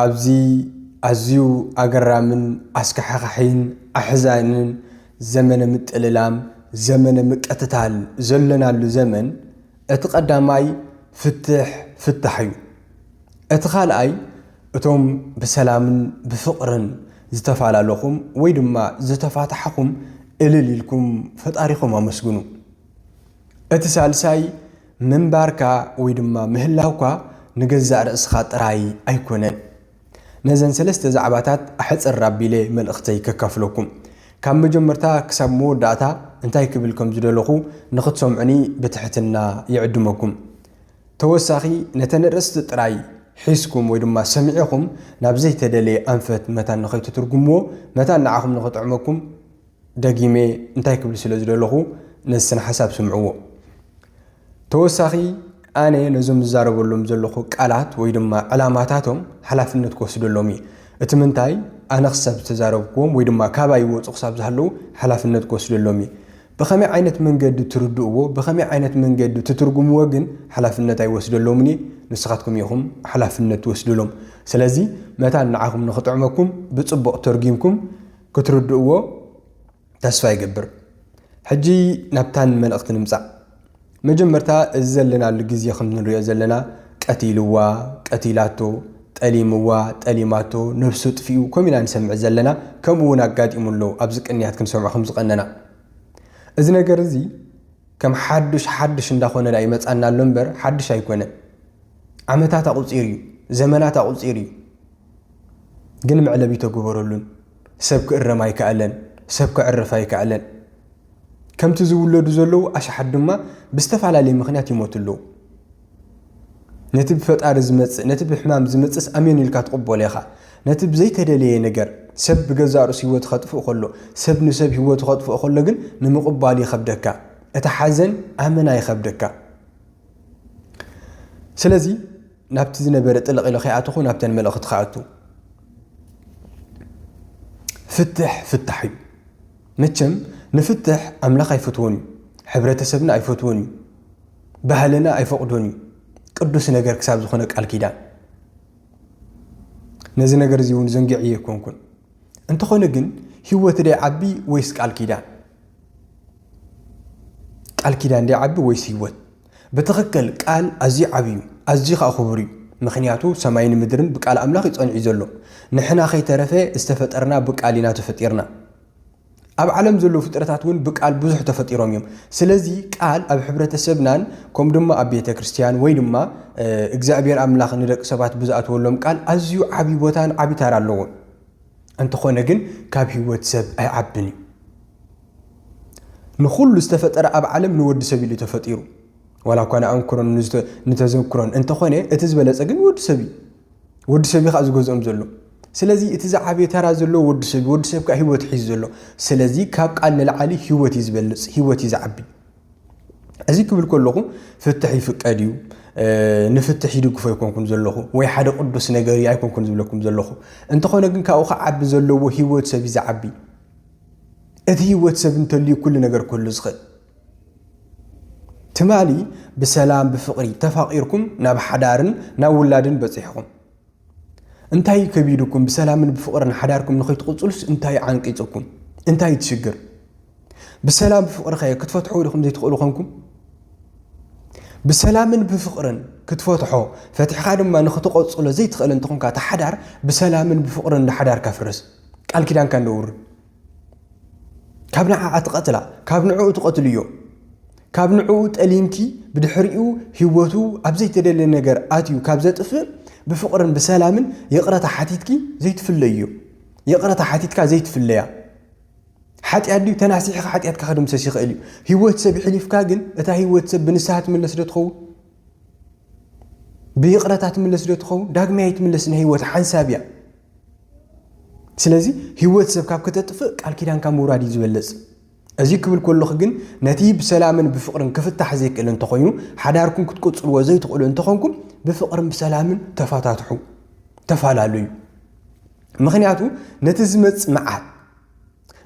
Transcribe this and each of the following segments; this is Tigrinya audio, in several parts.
ኣብዚ ኣዝዩ ኣገራምን ኣስካሕኻሒን ኣሕዛንን ዘመነ ምጥልላም፣ ዘመነ ምቅትታል ዘሎናሉ ዘመን፣ እቲ ቀዳማይ ፍትሕ ፍታሕ እዩ። እቲ ካልኣይ እቶም ብሰላምን ብፍቕርን ዝተፋላለኹም ወይ ድማ ዝተፋታሕኹም እልል ኢልኩም ፈጣሪኹም ኣመስግኑ። እቲ ሳልሳይ ምንባርካ ወይ ድማ ምህላውካ ንገዛእ ርእስኻ ጥራይ ኣይኮነን። ነዘን ሰለስተ ዛዕባታት ኣሕጽር ኣቢለ መልእኽተይ ከካፍለኩም። ካብ መጀመርታ ክሳብ መወዳእታ እንታይ ክብል ከም ዝደለኹ ንኽትሰምዑኒ ብትሕትና ይዕድመኩም። ተወሳኺ ነተን ኣርእስቲ ጥራይ ሒዝኩም ወይ ድማ ሰሚዒኹም ናብ ዘይተደለየ ኣንፈት መታን ንኸይትትርጉምዎ መታን ንዓኹም ንኽጥዕመኩም ደጊመ እንታይ ክብል ስለ ዝደለኹ ነዚ ስነ ሓሳብ ስምዕዎ። ተወሳኺ ኣነ ነዞም ዝዛረበሎም ዘለኹ ቃላት ወይ ድማ ዕላማታቶም ሓላፍነት ክወስደሎም እዩ። እቲ ምንታይ ኣነ ክሳብ ዝተዛረብክዎም ወይ ድማ ካባይ ይወፁ ክሳብ ዝሃለዉ ሓላፍነት ክወስደሎም እዩ። ብኸመይ ዓይነት መንገዲ ትርድእዎ ብኸመይ ዓይነት መንገዲ ትትርጉምዎ ግን ሓላፍነት ኣይወስደሎምን እዩ። ንስኻትኩም ኢኹም ሓላፍነት ትወስድሎም። ስለዚ መታን ንዓኹም ንኽጥዕመኩም ብፅቡቕ ተርጊምኩም ክትርድእዎ ተስፋ ይገብር። ሕጂ ናብታን መልእኽቲ ንምጻእ። መጀመርታ እዚ ዘለናሉ ግዜ ከም ንርእዮ ዘለና ቀቲልዋ፣ ቀቲላቶ፣ ጠሊምዋ፣ ጠሊማቶ፣ ነብሱ ኣጥፊኡ ከምኡ ኢና ንሰምዕ ዘለና፣ ከምኡ እውን ኣጋጢሙ ኣሎ ኣብዚ ቅንያት ክንሰምዖ ከም ዝቐነና። እዚ ነገር እዚ ከም ሓዱሽ ሓዱሽ እንዳኾነ ድኣ ይመጻና ኣሎ እምበር ሓዱሽ ኣይኮነን። ዓመታት ኣቑጺሩ እዩ፣ ዘመናት ኣቑጺሩ እዩ። ግን መዕለቢ ኣይተገበረሉን። ሰብ ክእረም ኣይከኣለን፣ ሰብ ከዕርፍ ኣይከኣለን። ከምቲ ዝውለዱ ዘለዉ ኣሽሓት ድማ ብዝተፈላለየ ምኽንያት ይሞቱ ኣለዉ። ነቲ ብፈጣሪ ዝመጽእ ነቲ ብሕማም ዝመጽእስ ኣሜን ኢልካ ትቕበሎ ኢኻ። ነቲ ብዘይተደለየ ነገር ሰብ ብገዛእ ርእሱ ህይወቱ ከጥፍእ ከሎ፣ ሰብ ንሰብ ህይወቱ ከጥፍእ ከሎ ግን ንምቕባሉ ይኸብደካ። እቲ ሓዘን ኣመና ይኸብደካ። ስለዚ ናብቲ ዝነበረ ጥልቕ ኢለ ከይኣተኹ ናብተን መልእኽቲ ክኣቱ ፍትሕ ፍታሕ እዩ መቸም ንፍትሕ ኣምላኽ ኣይፈትዎን እዩ ሕብረተሰብና ኣይፈትዎን እዩ ባህልና ኣይፈቕዶን እዩ ቅዱስ ነገር ክሳብ ዝኾነ ቃል ኪዳን ነዚ ነገር እዚ እውን ዘንጊዕ እየ ኮንኩን እንተኾነ ግን ህይወት ደይ ዓቢ ወይስ ቃል ኪዳን ቃል ኪዳን ደይ ዓቢ ወይስ ህይወት ብትኽክል ቃል ኣዝዩ ዓቢ እዩ ኣዝዩ ከኣ ክቡር እዩ ምኽንያቱ ሰማይን ምድርን ብቃል ኣምላኽ እዩ ጸኒዑ ዘሎ ንሕና ከይተረፈ ዝተፈጠርና ብቃል ኢና ተፈጢርና ኣብ ዓለም ዘለዉ ፍጥረታት እውን ብቃል ብዙሕ ተፈጢሮም እዮም ስለዚ ቃል ኣብ ሕብረተሰብናን ከምኡ ድማ ኣብ ቤተ ክርስትያን ወይ ድማ እግዚኣብሔር ኣምላኽ ንደቂ ሰባት ብዝኣትወሎም ቃል ኣዝዩ ዓብዪ ቦታን ዓብዪ ታራ ኣለዎ እንተኾነ ግን ካብ ህይወት ሰብ ኣይዓብን እዩ ንኹሉ ዝተፈጠረ ኣብ ዓለም ንወዲ ሰብ ኢሉ ተፈጢሩ ዋላ እኳ ንኣንክሮን ንተዘክሮን እንተኾነ እቲ ዝበለፀ ግን ወዲ ሰብ እዩ ወዲ ሰብ እዩ ከዓ ዝገዝኦም ዘሎ ስለዚ እቲ ዝዓበየ ተራ ዘሎ ወዲ ሰብ ወዲ ሰብ ከዓ ሂወት ሒዙ ዘሎ ስለዚ ካብ ቃል ንላዓሊ ሂወት እዩ ዝበልፅ ሂወት እዩ ዝዓቢ እዚ ክብል ከለኹ ፍትሕ ይፍቀድ እዩ ንፍትሕ ይድግፎ ኣይኮንኩን ዘለኹ ወይ ሓደ ቅዱስ ነገር እዩ ኣይኮንኩን ዝብለኩም ዘለኹ እንተኾነ ግን ካብኡ ክዓቢ ዘለዎ ሂወት ሰብ እዩ ዝዓቢ እቲ ህይወት ሰብ እንተልዩ ኩሉ ነገር ክህሉ ዝኽእል ትማሊ ብሰላም ብፍቕሪ ተፋቒርኩም ናብ ሓዳርን ናብ ውላድን በፂሕኹም እንታይ እዩ ከቢድኩም ብሰላምን ብፍቕርን ሓዳርኩም ንኸይትቕፅሉስ እንታይ ዓንቂፅኩም እንታይ እዩ ትሽግር ብሰላም ብፍቕሪ ኸ ክትፈትሖ ድኹም ዘይትኽእሉ ኾንኩም ብሰላምን ብፍቕርን ክትፈትሖ ፈትሕኻ ድማ ንኽትቐፅሎ ዘይትኽእል እንትኾንካ ተሓዳር ብሰላምን ብፍቕርን ንሓዳር ከፍርስ ቃል ኪዳንካ ነውርድ ካብ ንዓዓ ትቐትላ ካብ ንዕኡ ትቐትልዮ ካብ ንዕኡ ጠሊምኪ ብድሕሪኡ ህይወቱ ኣብ ዘይተደለ ነገር ኣትዩ ካብ ዘጥፍእ ብፍቕርን ብሰላምን ይቕረታ ሓቲትኪ ዘይትፍለዮ ይቕረታ ሓቲትካ ዘይትፍለያ ሓጢኣት ድዩ ተናሲሕኻ ሓጢኣትካ ከድምሰስ ይኽእል እዩ ህይወት ሰብ ይሕሊፍካ ግን እታ ህይወት ሰብ ብንስሃ ትምለስ ዶ ትኸውን ብይቕረታ ትምለስ ዶ ትኸውን? ዳግማይ ኣይትምለስን። ህይወት ሓንሳብ እያ። ስለዚ ህይወት ሰብ ካብ ከተጥፍእ ቃል ኪዳንካ ምውራድ እዩ ዝበለፅ። እዚ ክብል ከለኹ ግን ነቲ ብሰላምን ብፍቕርን ክፍታሕ ዘይክእል እንተኾይኑ ሓዳርኩም ክትቅፅልዎ ዘይትኽእሉ እንተኾንኩም ብፍቕርን ብሰላምን ተፈታትሑ ተፈላለዩ። ምክንያቱ ነቲ ዝመፅ መዓት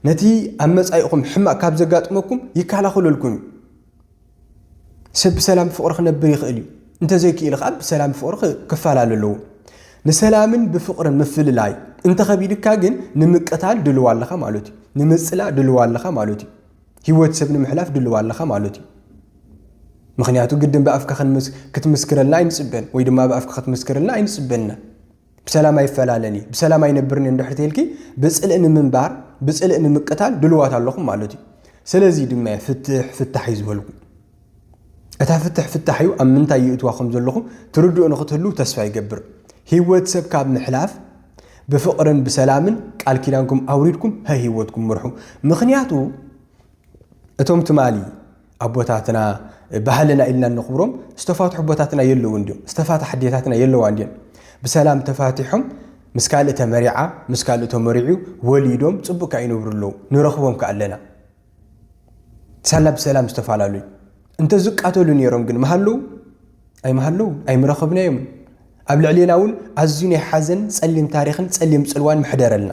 ነቲ ኣብ መጻኢኹም ሕማቕ ካብ ዘጋጥመኩም ይከላኸለልኩም እዩ። ሰብ ብሰላም ብፍቕሪ ክነብር ይኽእል እዩ። እንተዘይክኢሉ ከኣ ብሰላም ብፍቕሪ ክፈላለ ኣለዎ። ንሰላምን ብፍቕርን ምፍልላይ እንተኸቢድካ ግን ንምቅታል ድልዋ ኣለኻ ማለት እዩ። ንምጽላእ ድልዋ ኣለኻ ማለት እዩ። ህይወት ሰብ ንምሕላፍ ድልዋ ኣለኻ ማለት እዩ። ምክንያቱ ግድን ብኣፍካ ክትምስክረልና ኣይንጽበን ወይ ድማ ብኣፍካ ክትምስክርልና ኣይንጽበን ኢና። ብሰላም ኣይፈላለን እዩ ብሰላም ኣይነብርን እዩ እንድሕር ተይልኪ ብፅልኢ ንምንባር ብፅልኢ ንምቅታል ድልዋት ኣለኹም ማለት እዩ ስለዚ ድማ እየ ፍትሕ ፍታሕ እዩ ዝበልኩ እታ ፍትሕ ፍታሕ እዩ ኣብ ምንታይ ይእትዋ ከም ዘለኹም ትርድኡ ንክትህልው ተስፋ ይገብር ህይወት ሰብ ካብ ምሕላፍ ብፍቕርን ብሰላምን ቃል ኪዳንኩም ኣውሪድኩም ሀ ህይወትኩም ምርሑ ምክንያቱ እቶም ትማሊ ኣቦታትና ባህልና ኢልና እነኽብሮም ዝተፋትሑ ኣቦታትና የለውን ድዮም? ዝተፋትሓ ኣዴታትና የለዋን ድየን? ብሰላም ተፋቲሖም ምስ ካልእ ተመሪዓ ምስ ካልእ ተመሪዑ ወሊዶም ጽቡቅ ከኣ ይነብሩ ኣለዉ ንረኽቦም ከኣ ኣለና ሳላ ብሰላም ዝተፈላለዩ እንተ ዝቃተሉ ነይሮም ግን መሃለዉ ኣይመሃለዉ ኣይምረኸብናዮም ኣብ ልዕሌና እውን ኣዝዩ ናይ ሓዘን ጸሊም ታሪኽን ጸሊም ጽልዋን ምሕደረልና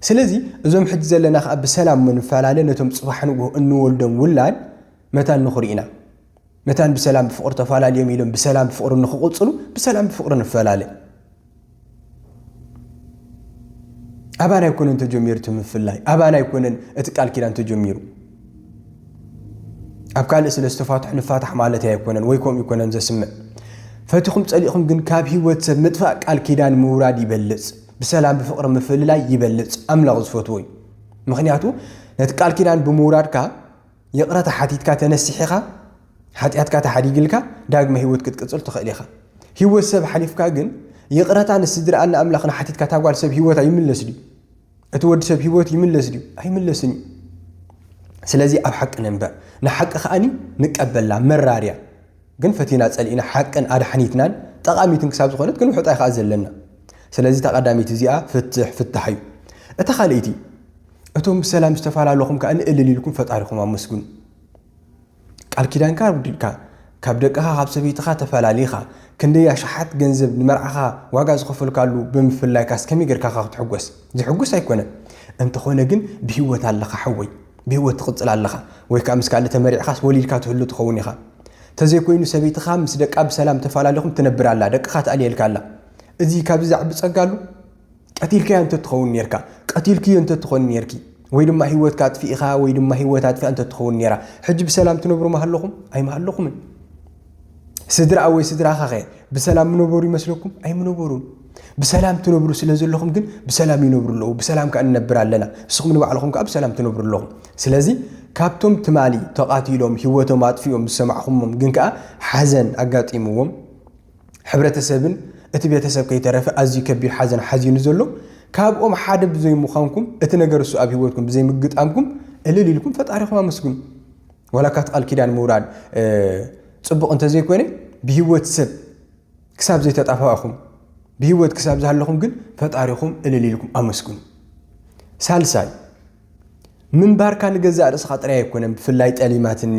ስለዚ እዞም ሕጂ ዘለና ከኣ ብሰላም ምንፈላለ ነቶም ጽባሕ ንግሆ እንወልዶም ውላድ መታን ንኹሪ ኢና። መታን ብሰላም ብፍቕሪ ተፋላልዮም ኢሎም ብሰላም ብፍቕሪ ንኽቕጽሉ ብሰላም ብፍቕሪ ንፈላለ። ኣባና ኣይኮነን ተጀሚሩ እቲ ምፍላይ፣ ኣባና ኣይኮነን እቲ ቃል ኪዳን ተጀሚሩ። ኣብ ካልእ ስለ ዝተፋትሑ ንፋታሕ ማለት ኣይኮነን ወይ ከምኡ ይኮነን ዘስምዕ። ፈቲኹም ጸሊእኹም ግን ካብ ህይወት ሰብ ምጥፋእ ቃል ኪዳን ምውራድ ይበልጽ። ብሰላም ብፍቅሪ ምፍልላይ ይበልጽ ኣምላኽ ዝፈትዎ እዩ ምኽንያቱ ነቲ ቃል ኪዳን ብምውራድካ ይቕረታ ሓቲትካ ተነሲሒኻ ሓጢኣትካ ተሓዲግልካ ዳግመ ህይወት ክትቅጽል ትኽእል ኢኻ ህይወት ሰብ ሓሊፍካ ግን ይቕረታ ንስድራኣን ንኣምላኽን ሓቲትካ እታ ጓል ሰብ ህይወት ኣይምለስ ድዩ እቲ ወዲ ሰብ ህይወት ይምለስ ድዩ ኣይምለስን እዩ ስለዚ ኣብ ሓቂ ንንበር ንሓቂ ከኣኒ ንቀበላ መራርያ ግን ፈቲና ጸሊእና ሓቅን ኣድሓኒትናን ጠቓሚትን ክሳብ ዝኾነት ክንውሕጣ ኢኻኣ ዘለና። ስለዚ እታ ቀዳመይቲ እዚኣ ፍትሕ ፍታሕ እዩ። እታ ካልኣይቲ እቶም ብሰላም ዝተፈላለኹም ከኣ ንእልል ኢልኩም ፈጣሪኹም ኣመስግኑ። ቃል ኪዳንካ ኣውዲልካ ካብ ደቅኻ ካብ ሰበይትኻ ተፈላሊኻ ክንደይ ኣሽሓት ገንዘብ ንመርዓኻ ዋጋ ዝኸፈልካሉ ብምፍላይካስ ከመይ ጌርካ ካ ክትሕጎስ ዝሕጉስ ኣይኮነን እንተኾነ ግን ብሂወት ኣለኻ ሓወይ ብሂወት ትቕጽል ኣለኻ ወይ ከዓ ምስ ካልእ ተመሪዕኻስ ወሊድካ ትህሉ ትኸውን ኢኻ ተዘይኮይኑ ሰበይትኻ ምስ ደቃ ብሰላም ተፋላሊኹም ትነብር ኣላ ደቅኻ ትኣልየልካ ኣላ እዚ ካብዚ ዝዓቢ ጸጋ ኣሉ ቀቲልካያ እንተትኸውን ኔርካ ቀቲልክዮ እንተትኾኒ ኔርኪ ወይ ድማ ሂወትካ ኣጥፊኢኻ ወይ ድማ ሂወት ኣጥፊኣ እንተትኸውን ኔራ ሕጂ ብሰላም ትነብሩ ምሃለኹም ኣይምሃለኹምን ስድራኣ ወይ ስድራኻኸ ብሰላም ምነበሩ ይመስለኩም ኣይምነበሩን ብሰላም ትነብሩ ስለ ዘለኹም ግን ብሰላም ይነብሩ ኣለዉ ብሰላም ከዓ ንነብር ኣለና ንስኹም ንባዕልኹም ከዓ ብሰላም ትነብሩ ኣለኹም ስለዚ ካብቶም ትማሊ ተቓቲሎም ህይወቶም ኣጥፊኦም ዝሰማዕኹሞም ግን ከዓ ሓዘን ኣጋጢምዎም ሕብረተሰብን እቲ ቤተሰብ ከይተረፈ ኣዝዩ ከቢድ ሓዘን ሓዚኑ ዘሎ ካብኦም ሓደ ብዘይምዃንኩም እቲ ነገር እሱ ኣብ ህይወትኩም ብዘይምግጣምኩም እልል ኢልኩም ፈጣሪኹም ኣመስግኑ ዋላ ካት ቃል ኪዳን ምውራድ ፅቡቕ እንተዘይኮይነ ብህይወት ሰብ ክሳብ ዘይተጣፋእኹም ብህይወት ክሳብ ዝሃለኹም ግን ፈጣሪኹም እልል ኢልኩም ኣመስግኑ። ሳልሳይ ምንባርካ ንገዛእ ርእስኻ ጥራይ ኣይኮነን፣ ብፍላይ ጠሊማትኒ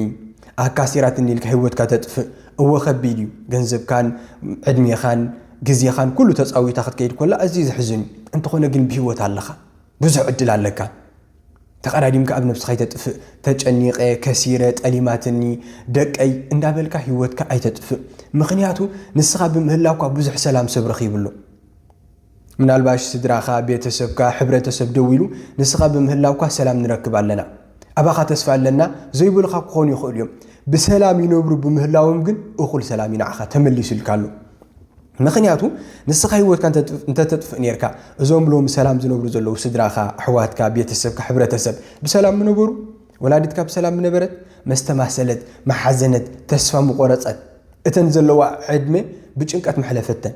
ኣካሲራትኒ ኢልካ ህይወትካ ተጥፍእ እወ ከቢድ እዩ። ገንዘብካን ዕድሜኻን ግዜኻን ኩሉ ተጻዊታ ክትከይድ ኮላ ኣዝዩ ዘሕዝን እዩ። እንተኾነ ግን ብህይወት ኣለኻ፣ ብዙሕ ዕድል ኣለካ። ተቐዳዲምካ ኣብ ነብስኻ ኣይተጥፍእ ተጨኒቐ ከሲረ ጠሊማትኒ ደቀይ እንዳበልካ ሂወትካ ኣይተጥፍእ ምኽንያቱ ንስኻ ብምህላውካ ብዙሕ ሰላም ሰብ ረኺብሉ ምናልባሽ ስድራኻ ቤተሰብካ ሕብረተሰብ ደው ኢሉ ንስኻ ብምህላውካ ሰላም ንረክብ ኣለና ኣባኻ ተስፋ ኣለና ዘይብልኻ ክኾኑ ይኽእሉ እዮም ብሰላም ይነብሩ ብምህላዎም ግን እኹል ሰላም ይንዓኻ ተመሊሱልካ ኣሎ ምኽንያቱ ንስኻ ህይወትካ እንተተጥፍእ ኔርካ እዞም ሎሚ ሰላም ዝነብሩ ዘለዉ ስድራኻ፣ ኣሕዋትካ፣ ቤተሰብካ፣ ሕብረተሰብ ብሰላም ምነበሩ? ወላዲትካ ብሰላም ምነበረት? መስተማሰለት፣ ምሓዘነት፣ ተስፋ ምቖረጸት፣ እተን ዘለዋ ዕድመ ብጭንቀት መሕለፈተን።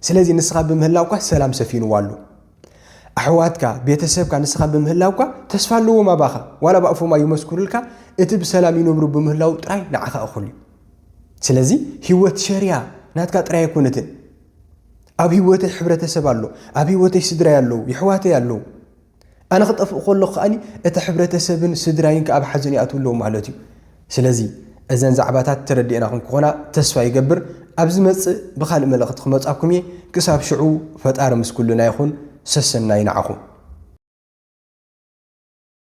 ስለዚ ንስኻ ብምህላውካ ሰላም ሰፊንዋ ኣሎ። ኣሕዋትካ፣ ቤተሰብካ ንስኻ ብምህላውካ ተስፋ ኣለዎም ኣባኻ። ዋላ ብኣፎም ኣይመስክሩልካ፣ እቲ ብሰላም ይነብሩ ብምህላዉ ጥራይ ንዓኻ እኹል እዩ። ስለዚ ህይወት ሸርያ ናትካ ጥራይ ኣይኮነትን። ኣብ ህይወተይ ሕብረተሰብ ኣሎ፣ ኣብ ህይወተይ ስድራይ ኣለዉ፣ የሕዋተይ ኣለዉ። ኣነ ክጠፍእ ከለኹ ከኣ እቲ ሕብረተሰብን ስድራይን ከኣ ኣብ ሓዘን ይኣትዉ ኣለዉ ማለት እዩ። ስለዚ እዘን ዛዕባታት ተረዲኤናኹም ክኾና ተስፋ ይገብር። ኣብ ዝመጽእ ብኻልእ መልእኽቲ ክመጻኩም እየ። ክሳብ ሽዑ ፈጣሪ ምስ ኩልና ይኹን። ሰሰናዩ ንዓኹም።